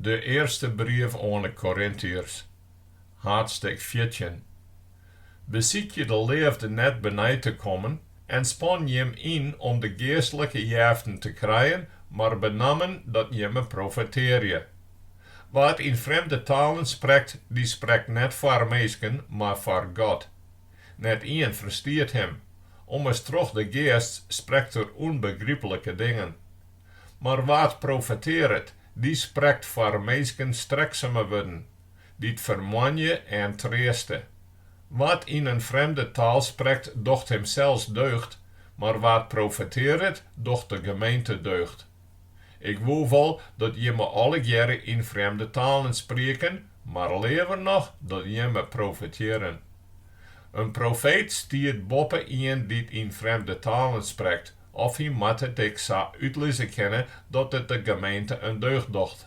De earste brief oan 'e Korintiërs, haadstik fjirtjin. Besykje de leafde net benei te kommen en span jim yn om de geastlike jeften te krijen, mar benammen dat jimme profetearje. Wa't yn frjemde talen sprekt, dy sprekt net foar minsken, mar foar God. Net ien ferstiet him, ommers troch de geast sprekt er ûnbegryplike dingen. Mar wa't profetearret, dy sprekt foar minsken streksume wurden, dy't fermoanje en treaste. Wa't yn in frjemde taal sprekt, docht himsels deugd, mar wa't profetearret, docht de gemeente deugd. Ik woe wol dat jimme allegearre yn frjemde talen sprieken, mar leaver noch dat jimme profetearren. In profeet stiet boppe ien dy't yn frjemde talen sprekt, Of hy moat it ek sa útlizze kinne dat it de gemeente in deugd docht.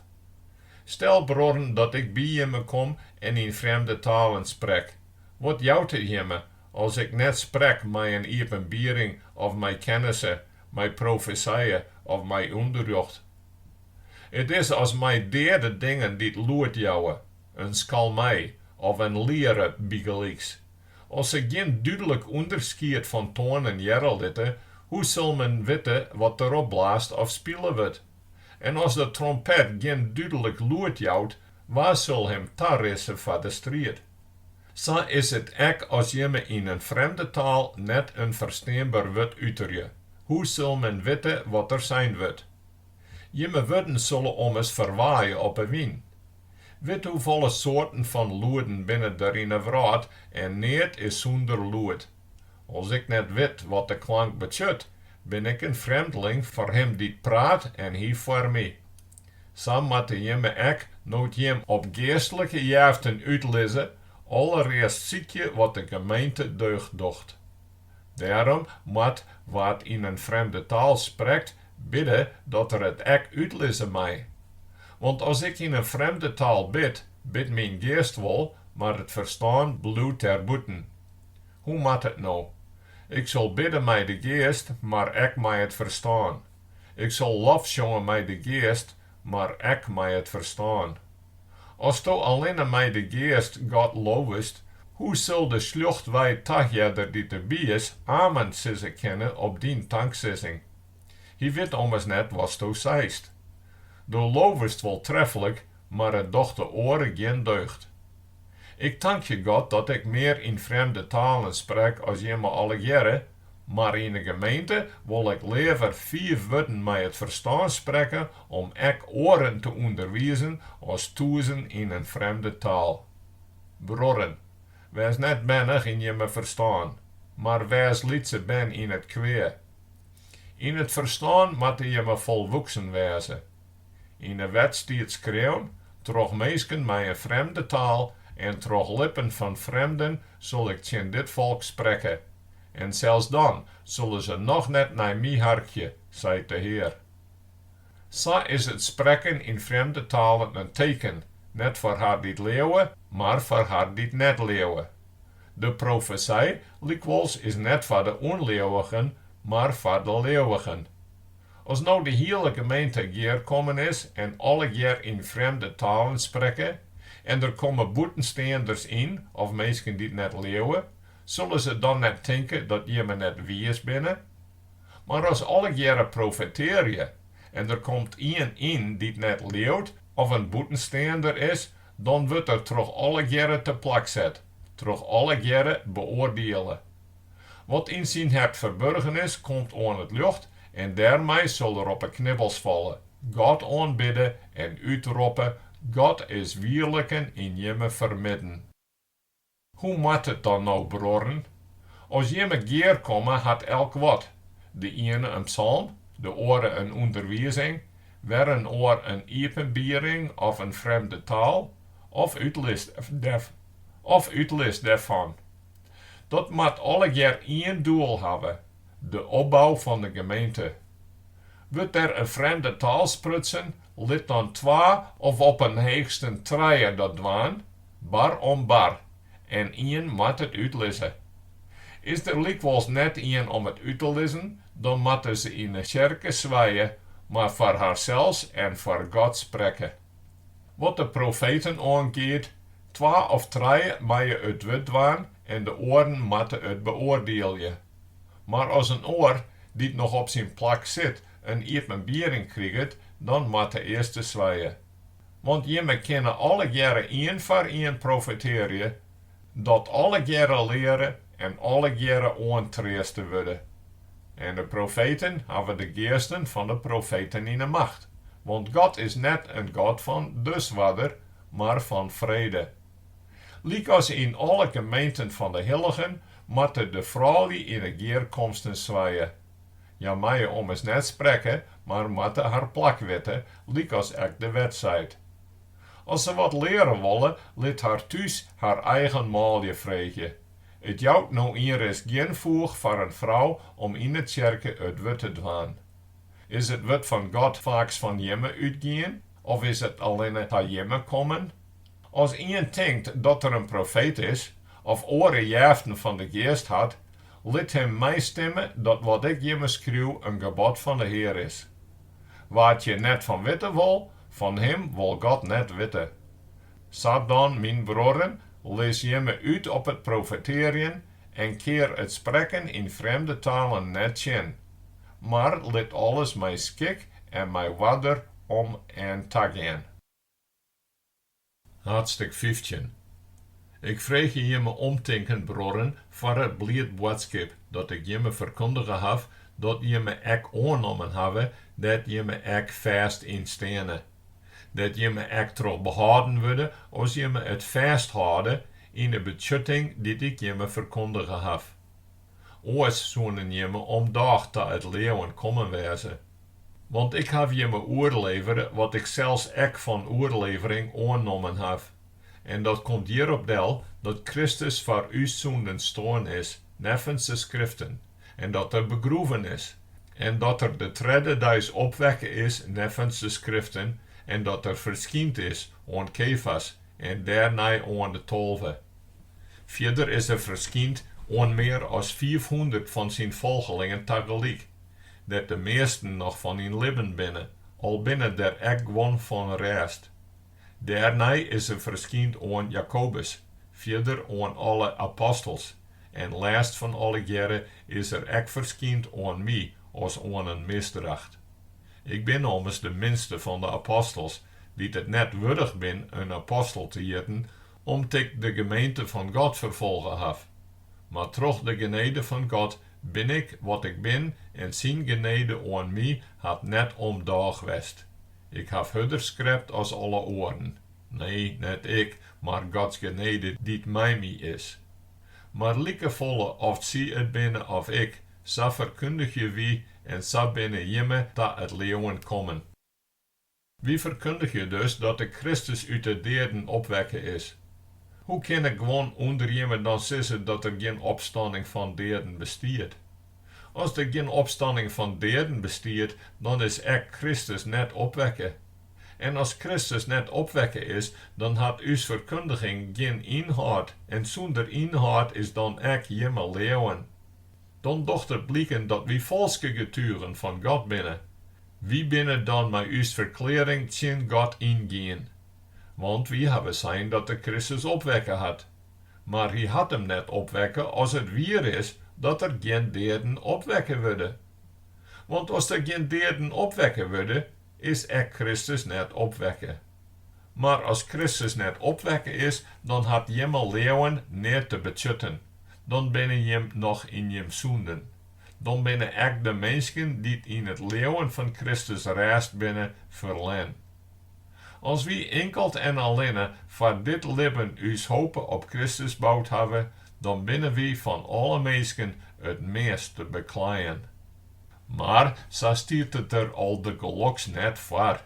Stel bruorren dat ik by jimme kom en yn frjemde talen sprek. Wat jout it jimme as ik net sprek mei in iepenbiering of mei kennisse, mei profesije of mei ûnderrjocht? It is as mei deade dingen dy't lûd jouwe, in skalmei of in liere bygelyks, As se gjin dúdlik ûnderskied fan toanen hearre litte, hoe sil men witte wat derop blaasd of spile wurdt? En as de trompet gjin dúdlik lûd jout, wa sil him tarisse foar de striid? Sa is it ek as jimme yn in frjemde taal net in fersteanber wurd uterje, hoe sil men witte wat der sein wurdt? Jimme wurden sille ommers ferwaaie op 'e wyn. Wit hoefolle soarten fan lûden binne der yn 'e wrâld en neat is sûnder lûd. As ik net wit wat de klank betsjut, bin ik in frjemdling foar him dy't praat en hy foar my. Sa moatte jimme ek, no't jim op geastlike jeften útlizze, allerearst sykje wat de gemeente deugd docht. Dêrom moat wa't yn in frjemde taal sprekt bidde dat er it ek útlizze mei. Want as ik yn in frjemde taal bid, bidt myn geast wol, mar it ferstân bliuwt dêrbûten. Hoe moat it no? Ik sil bidde mei de geast, mar ek mei it ferstân. Ik sil lofsjonge mei de geast, mar ek mei it ferstân. Asto allinne mei de Geast God lovest, hoe sil de sljochtwei tahearder dy't derby is, amen sizze kinne op dyn tanksizzing? Hy wit ommers net watsto seist. Do lovest wol treflik, mar it docht de oare gjin deugd. Ik tankje God dat ik mear yn frjemde talen sprek as jimme allegearre, Mar yn de gemeente wol ik leaver fiif wurden mei it ferstân sprekke om ek oaren te ûnderwizen as tûzen yn in frjemde taal. Bruorren, wês net bernich yn jimme ferstân, mar wês lytse bern yn it kwea. Yn it ferstân moatte jimme folwoeksen wêze. Yn 'e wet stiet skreaun, Troch minsken mei in frjemde taal en troch lippen fan frjemden sil ik tsjin dit folk sprekke. en sels dan sille se noch net nei my harkje, seit de Hear. Sa is it sprekken yn frjemde talen in teken, net foar har dy't leauwe, mar foar har dy't net leauwe. De profesy lykwols is net foar de ûnleauwigen, mar foar de leauwigen. As no de hiele gemeente gearkommen is en allegear yn frjemde talen sprekke, en der komme bûtensteanders yn of minsken dy't net leauwe, Sille se dan net tinke dat jimme net wiis binne? Mar as allegearre profetearje en der komt ien yn dy't net leaut of in bûtensteander is, dan wurdt er troch allegearre teplak set, troch allegearre beoardiele. Wat yn syn hert ferburgen is, komt oan it ljocht en dêrmei sil er op 'e knibbels falle, God oanbidde en útroppe, God is wierliken yn jimme fermidden. Hoe moat it dan no bruorren? As jimme gearkomme hat elk wat, de iene in psalm, de oare in ûnderwizing, wer in oar in iepenbiering of in frjemde taal, of útlis dêrfan. Dat moat allegear ien doel hawwe, de opbou fan de gemeente. Wurdt der in frjemde taal sprutsen Lit dan twa of op 'en heechsten trije dat dwaan, bar om bar, en ien moat it útlizze. Is der lykwols net ien om it út te lizzen, dan moatte se yn 'e tsjerke swije, mar foar harsels en foar God sprekke. Wat de profeten oangiet, twa of trije meie it wurd dwaan en de oaren moatte it beoardielje. Mar as in oar, dy't noch op syn plak sit, in iepenbiering kriget, dan moat de earste swije. Want jimme kinne allegearre ien foar ien profetearje, dat allegearre leare en allegearre oantreaste wurde. En de profeten hawwe de geasten fan de profeten yn 'e macht, want God is net in God fan disoarder, mar fan frede. Lykas yn alle gemeenten fan de hilligen moatte de froulju yn 'e gearkomsten swije. Hja meie ommers net sprekke, mar moatte har plak witte, lykas ek de wet seit. As se wat leare wolle, lit har thús har eigen manlju freegje. It jout no ienris gjin foech foar in frou om yn 'e tsjerke it wurd te dwaan. Is it wurd fan God faaks fan jimme útgien, of is it allinne ta jimme kommen? As ien tinkt dat er in profeet is, of oare jeften fan de Geast hat, lit him meistimme dat wat ik jimme skriuw in gebod fan de Hear is. Wa't hjir net fan witte wol, fan him wol God net witte. Sa dan, myn bruorren, lis jimme út op it profetearjen en kear it sprekken yn frjemde talen net tsjin, mar lit alles mei skik en mei oarder om en ta gean. Haadstik fyftjin. Ik freegje jimme omtinken, bruorren, foar it bliid boadskip dat ik jimme ferkundige haw, dat jimme ek oannommen hawwe, dêr't jimme ek fêst yn steane, dêr't jimme ek troch behâlden wurde, as jimme it fêsthâlde yn 'e betsjutting dy't ik jimme ferkundige haw. oars soenen jimme omdôch ta it leauwen kommen wêze. Want ik haw jimme oerlevere wat ik sels ek fan oerlevering oannommen haw, en dat komt hjirop del, dat Kristus foar ús sûnden stoarn is neffens de Skriften, en dat Er begroeven is, en dat Er de tredde deis opwekke is neffens de Skriften, en dat Er ferskynd is oan Kefas, en dêrnei oan de tolve. Fierder is er ferskynd oan mear as fiifhûndert fan syn folgelingen tagelyk, dêr't de measten noch fan yn libben binne, al binne der ek guon fan rêst. Dêrnei is er ferskynd oan Jakobus, fierder oan alle apostels, en lêst fan allegearre is er ek ferskynd oan my as oan in misdracht. Ik bin ommers de minste fan de apostels, dy't it net wurdich bin in apostel te hjitten, om't ik de gemeente fan God ferfolge haw. Mar troch de genede fan God bin ik wat ik bin en syn genede oan my hat net omdôch west. Ik haw hurder skrept as alle oaren, nee, net ik, mar Gods genede dy't mei my is. Mar likefolle oft sy it binne of ik, Sa ferkundigje wy en sa binne jimme ta it leauwen kommen. Wy ferkundigje dus dat de Kristus út de deaden opwekke is. Hoe kinne guon ûnder jimme dan sizze dat der gjin opstanning fan deaden bestiet? As der gjin opstanning fan deaden bestiet, dan is ek Kristus net opwekke. En as Kristus net opwekke is, dan hat ús ferkundiging gjin ynhâld en sûnder ynhâld is dan ek jimme leauwen. Dan docht it bliken dat wy falske getugen fan God binne. Wy binne dan mei ús ferklearring tsjin God yngien. Want wy hawwe sein dat Er Kristus opwekke hat. Mar Hy hat Him net opwekke as it wier is dat der gjin deaden opwekke wurde. Want as der gjin deaden opwekke wurde, is ek Kristus net opwekke. Mar as Kristus net opwekke is, dan hat jimme leauwen neat te betsjutten. dan binne jim noch yn jim sûnden. Dan binne ek de minsken dy't yn it leauwen fan Kristus rêst binne, ferlern. As wy inkeld en allinne foar dit libben ús hope op Kristus boud hawwe, dan binne wy fan alle minsken it meast te bekleien. Mar sa stiet it der aldergeloks net foar.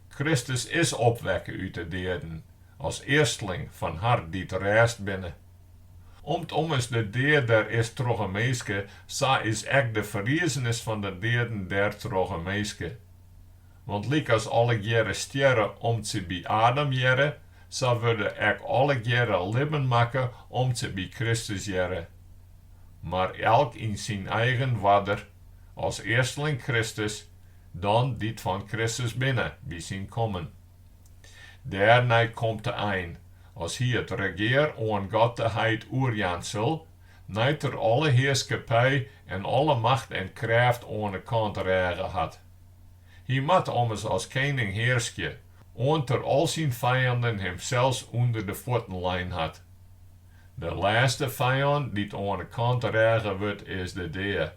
Kristus is opwekke út de deaden, as earsteling fan har dy't rêst binne. Om't ommers de dea der is troch in minske, sa is ek de ferriezenis fan de deaden der troch in minske. Want lykas allegearre stjerre om't sy by Adam hearre, sa wurde ek allegearre libben makke om't sy by Kristus hearre. Mar elk yn syn eigen oarder, as earsteling Kristus, dan dy't fan Kristus binne, by syn kommen. Dêrnei komt de ein, as Hy it regear oan God de Heit oerjaan sil, nei't Er alle hearskippy en alle macht en krêft oan 'e kant rêge hat. Hy moat ommers as kening hearskje, oant Er al syn fijanden Himsels ûnder de fuotten lein hat. De lêste fijand dy't oan 'e kant rêge wurdt is de dea,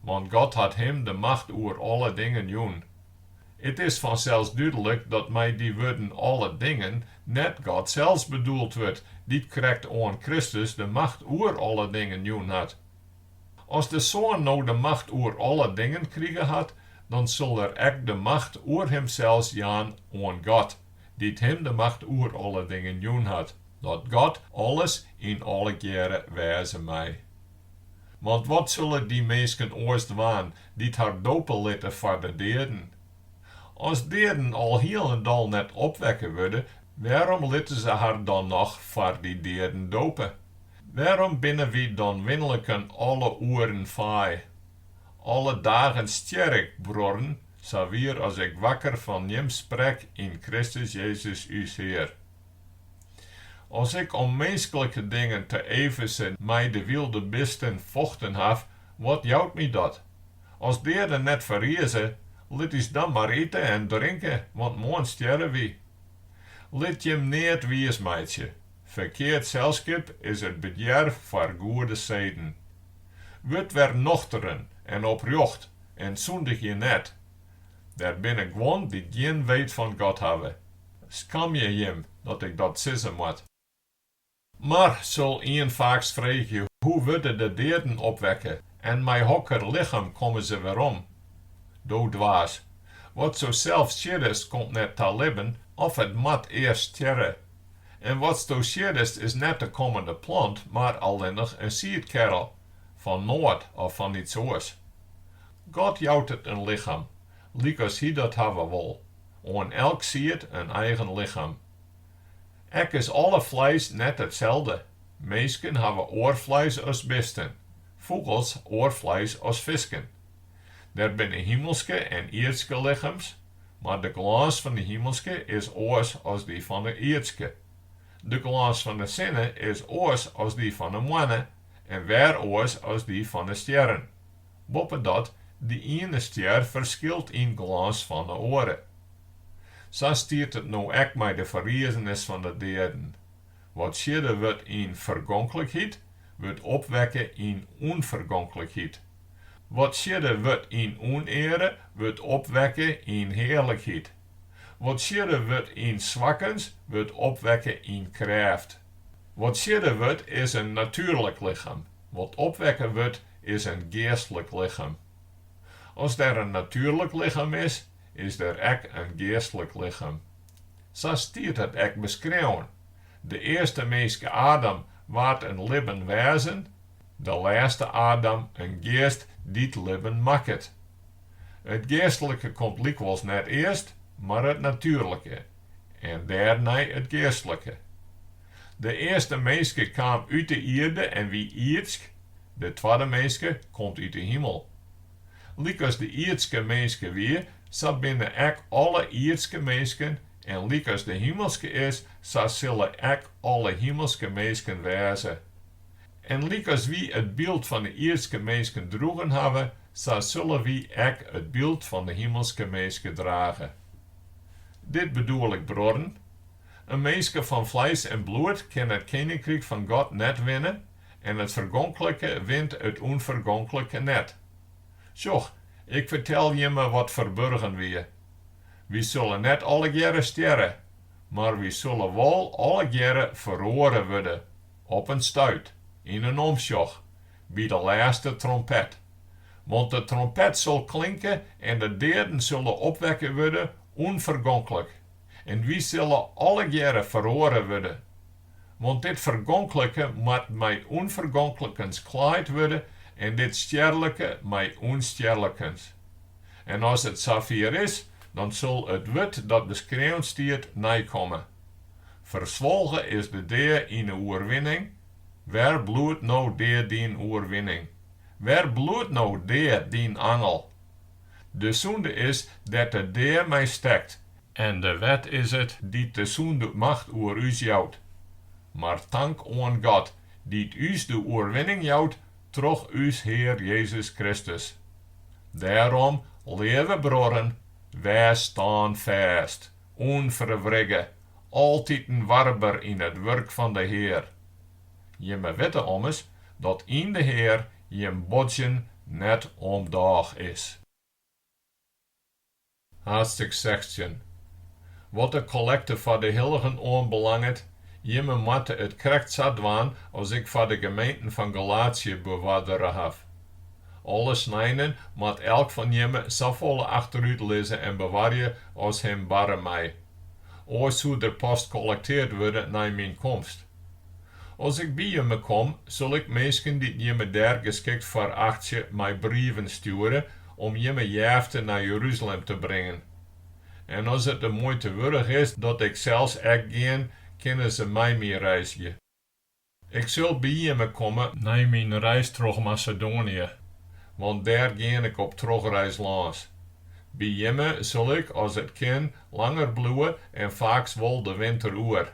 want God hat Him de macht oer alle dingen jûn. It is fansels dúdlik dat mei dy wurden alle dingen net God sels bedoeld wurdt, dy't krekt oan Kristus de macht oer alle dingen jûn hat. As de Soan no de macht oer alle dingen krige hat, dan sil er ek de macht oer himsels jaan oan God, dy't him de macht oer alle dingen jûn hat, dat God alles yn allegearre wêze mei. Want wat sulle dy minsken oars dwaan, dy't har dope litte foar de deaden? As deaden al hielendal net opwekke wurde, wêrom litte se har dan noch foar dy deaden dope? Wêrom binne wy dan winliken alle oeren faai? Alle dagen stjer ik, bruorren, sa wier as ik wakker fan jim sprek yn Kristus Jezus ús Hear. As ik om minsklike dingen te Efeze mei de wylde bisten fochten haw, wat jout my dat? As deaden net ferrize, lit ús dan mar ite en drinke, want moarn stjerre wy. Lit jim neat wiis meitsje, ferkeard selskip is it bederf foar goede seden. Wurd wer nochteren en oprjocht en sûndigje net. Der binne guon dy't gjin weet fan God hawwe. Skamje jim dat ik dat sizze moat. Mar, sil ien faaks freegje, hoe wurde de deaden opwekke en mei hokker lichem komme se werom? Do dwaas. Watsto sels sieddest komt net ta libben of it moat earst stjerre. En watsto sieddest is net de kommende plant, mar allinnich in siedkerrel, fan nôt of fan iets oars. God jout it in lichem, lykas Hy dat hawwe wol. oan elk sied in eigen lichem. Ek is alle fleis net itselde, minsken hawwe oar fleis as bisten, fûgels oar fleis as fisken. Der binne himelske en ierdske lichems, mar de glâns fan de himelske is oars as dy fan de ierdske. De glâns fan de sinne is oars as dy fan de moanne en wer oars as dy fan de stjerren. Boppedat de iene stjer ferskilt yn glâns fan 'e oare. Sa stiet it no ek mei de ferriezenis fan 'e deaden. Wat siedde wurdt yn fergonklikheid, wurdt opwekke yn ûnfergonklikheid. Wat siedde wurdt yn ûneare, wurdt opwekke yn hearlikheid. Wat siedde wurdt yn swakkens, wurdt opwekke yn krêft. Wat siedde wurdt is in natuerlik lichem, wat opwekke wurdt is in geastlik lichem. As der in natuerlik lichem is, is der ek in geastlik lichem. Sa stiet it ek beskreaun, De earste minske Adam waard in libben wêzen, de lêste Adam in geast dy't libben makket. It geastlike komt lykwols net earst, mar it natuerlike. en dêrnei it geastlike. De earste minske kaam út de ierde en wie ierdsk, de twadde minske komt út de himel. Lykas de ierdske minske wie, sa binne ek alle ierdske minsken, en lykas de himelske is, sa sille ek alle himelske minsken wêze. En lykas wy it byld fan de ierdske minsken droegen hawwe, sa sille wy ek it byld fan de himelske minske drage. Dit bedoel ik bruorren, in minske fan fleis en bloed kin it keninkryk fan God net winne en it fergonklike wint it ûnfergonklike net. Sjoch, ik fertel jimme wat ferburgen wie. Wy sulle net allegearre stjerre, mar wy sulle wol allegearre feroare wurde, op in stuit, yn in omsjoch, by de lêste trompet. Want de trompet sil klinke en de deaden sille opwekke wurde ûnfergonklik, en wy sille allegearre feroare wurde. Want dit fergonklike moat mei ûnfergonklikens klaaid wurde en dit stjerlike mei ûnstjerlikens. En as it safier is, dan sil it wurd dat beskreaun stiet neikomme. Ferswolge is de dea yn 'e oerwinning, Wêr bliuwt no dea dyn oerwinning? Wêr bliuwt no dea dyn angel? De sûnde is dêr't de dea mei stekt. En de wet is it dy't de sûnde macht oer ús jout. Mar tank oan God, dy't ús de oerwinning jout troch ús Hear Jezus Kristus. Dêrom, leave bruorren, wês stânfêst, ûnferwrigge, Altiten warber yn it wurk fan de Hear. Jimme witte ommers dat yn de Hear jim bodzjen net om dôch is. Haadstik sechstjin. Wat de kollekte foar de hilligen oanbelanget, jimme moatte it krekt sa dwaan as ik foar de gemeenten fan Galatië beoardere haw. Alle sneinen moat elk fan jimme safolle achterút lizze en bewarje as him barre mei. Oars soe der pas kollektearre wurde nei myn komst. As ik by jimme kom, sil ik minsken dy't jimme dêr geskikt foar achtsje mei brieven stjoere om jimme jefte nei Jeruzalem te bringen. En as it de muoite wurdich is dat ik sels ek gean, kinne se mei my reizgje. Ik sil by jimme komme nei myn reis troch Masedoanië, want dêr gean ik op trochreis lâns. By jimme sil ik, as it kin, langer bliuwe en faaks wol de winter oer.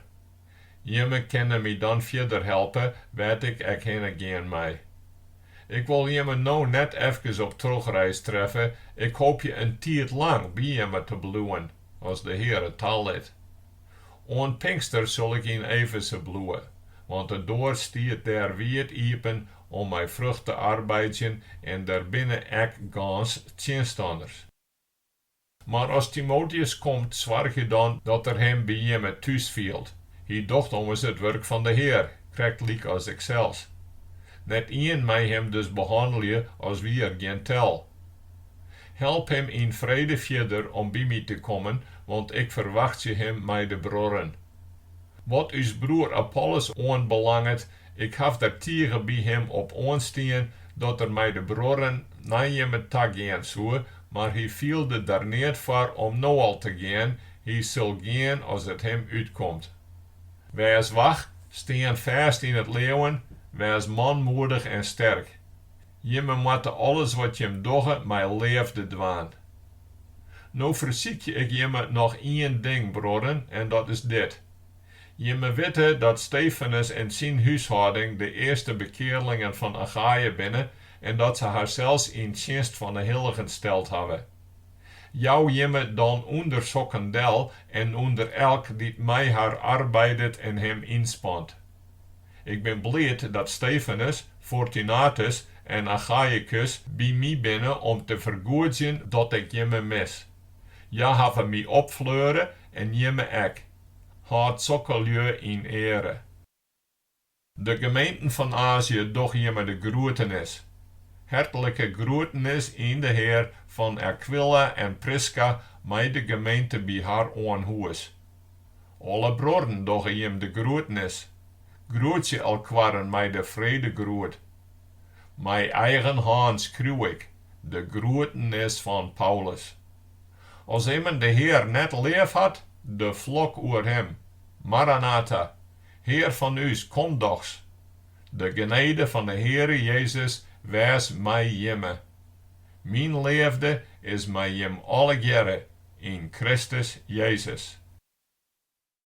Jimme kinne my dan fierder helpe wêr't ik ek hinne gean mei. Ik wol jimme no net efkes op trochreis treffe, ik hoopje in tiid lang by jimme te bliuwen, as de Hear it talit. Oant Pinkster sil ik yn Efeze bliuwe, want de doar stiet dêr wiid iepen om mei frucht te arbeidzjen en der binne ek gâns tsjinstanners. Mar as Timoteus komt, soargje dan dat er him by jimme thús fielt. Hy docht ommers it wurk fan de Hear, krektlyk as iksels. Net ien mei him dus behannelje as wie er gjin tel. Help him yn frede fierder om by my te kommen, want ik ferwachtsje him mei de bruorren. Wat ús broer Apollos oanbelanget, ik haw der tige by him op oanstien dat er mei de bruorren nei jimme ta gean soe, mar hy fielde der neat foar om no al te gean, hy sil gean as it him útkomt. Wês wach, stean fêst yn it leauwen, wês manmoedich en sterk. Jimme moatte alles wat jim dogge mei leafde dwaan. No fersykje ik jimme noch ien ding, bruorren, en dat is dit. Jimme witte dat Stefanus en syn húshâlding de earste bekearlingen fan Achaïa binne en dat se harsels yn tsjinst fan 'e hilligen steld hawwe. Jou jimme dan ûnder sokken del en ûnder elk dy't mei har arbeidet en him ynspant. Ik bin bliid dat Stefanus, Fortunatus en Achaïkus by my binne om te fergoedzjen dat ik jimme mis. Hja hawwe my opfleure en jimme ek. Hâld sokke lju yn eare. De gemeenten fan Azië dogge jimme de groetenis. Hertlike groetenis yn de Hear fan Akwila en Priska mei de gemeente by har oan hûs. Alle bruorren dogge jim de groetenis. Groetsje elkoaren mei de fredegroet. Mei eigen hân skriuw ik de groetenis fan Paulus. As immen de Hear net leaf hat, de flok oer him. Maranatha! Hear fan ús, kom dochs! De genede fan de Heare Jezus wês mei jimme. Myn leafde is mei jim allegearre yn Kristus Jezus.